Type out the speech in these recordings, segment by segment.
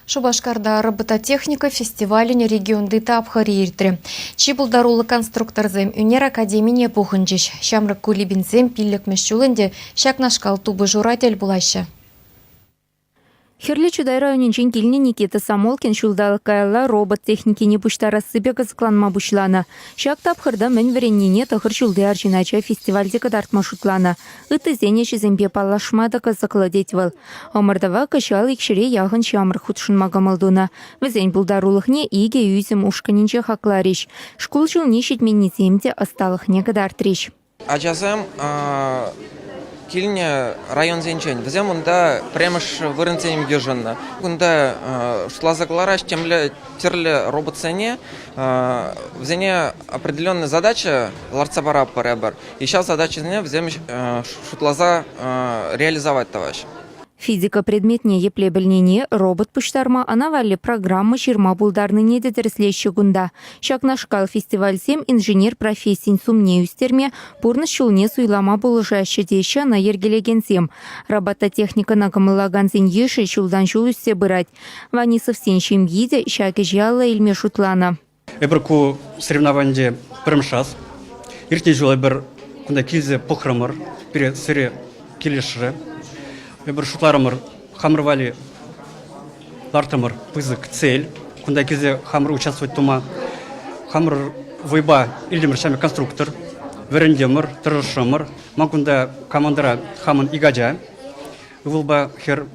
Шупашкарта робототехника фестивалӗн регионти тапхӑрӗ иртрӗ. Чи пултаруллӑ конструкторсем ӳнер академине пухӑнчӗҫ. Ҫамрӑк кулибинсем пиллӗкмӗш ҫул ӗнтӗ ҫакнашкал тупӑшура тӗл пулаҫҫӗ. Хӗрлӗ Чутай районӗнчен килнӗ Никита Самолкин ҫулталӑк каялла робот техникине пуҫтарассипе кӑсӑкланма пуҫланӑ. Ҫак тапхӑрта мӗн вӗреннине тӑхӑр ҫулти арҫын ача фестивальте кӑтартма шутланӑ. Ыттисен ӗҫӗсемпе паллашма та кӑсӑклӑ, тет вӑл. Ӑмӑртӑва кӑҫал ик ҫӗре яхӑн ҫамрӑк хутшӑнма кӑмӑл тунӑ. Вӗсен пултарулӑхне икӗ ӳсӗм ушкӑнӗнче хакларӗҫ. Шкул ҫулне ҫитменнисем те ӑсталӑхне кӑтартрӗҫ. Ачасем килнӗ районсенчен, вӗсем унта пӗрремӗш вырӑнсем йышӑннӑ. Кунта шутласа кӑларас темле тӗрлӗ роботсене, вӗсене определенная задача лартса паратпӑр эпир. ҫав задачӑсене вӗсем шутласа реализовать тӑваҫҫӗ. Физика предметне епле пӗлнине робот пуҫтарма ана валли программа ҫырма пултарнине те тӗрӗслеҫҫӗ кунта. Ҫакнашкал фестивальсем инженер профессийӗн сумне ӳстерме, пурнӑҫ ҫулне суйлама пулӑшаҫҫӗ теҫҫӗ ӑна йӗркелекенсем. Робототехникӑна кӑмӑллакансен йышӗ ҫултан ҫул ӳссе пырать. Ванисовсен ҫемйи те ҫак ӗҫе алла илме шутланӑ. Эпир ку соревнование пӗрремӗш Иртнӗ ҫул эпир кунта килсе пӑхрӑмӑр, пире сире килӗшрӗ. Эпир шутларӑмӑр, хамӑр валли лартӑмӑр пысӑк цель. Кунта килсе хамӑр участвовать тума хамӑр вӑйпа илтӗмӗр ҫамрӑк конструктор. Вӗрентӗмӗр, тӑрӑшрӑмӑр. Ман кунта командӑра хамӑн ик ача. Ывӑлпа хӗр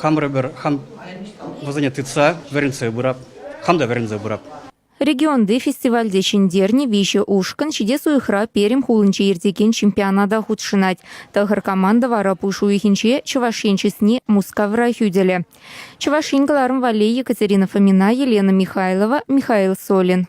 хамӑр пӗр хам вӗсене тытса вӗрентсе пырап, хам та вӗрентсе пырап. Регионти фестивальте ҫӗнтернӗ виҫӗ ушкӑн ҫитес уйӑхра Пермь хулинче иртекен чемпионата хутшӑнать. Тӑхӑр команда вара пуш уйӑхӗнче Чӑваш Ен чысне Мускавра хӳтӗлӗ. Чӑваш Ен кӑларӑм валли Екатерина Фомина, Елена Михайлова, Михаил Солин.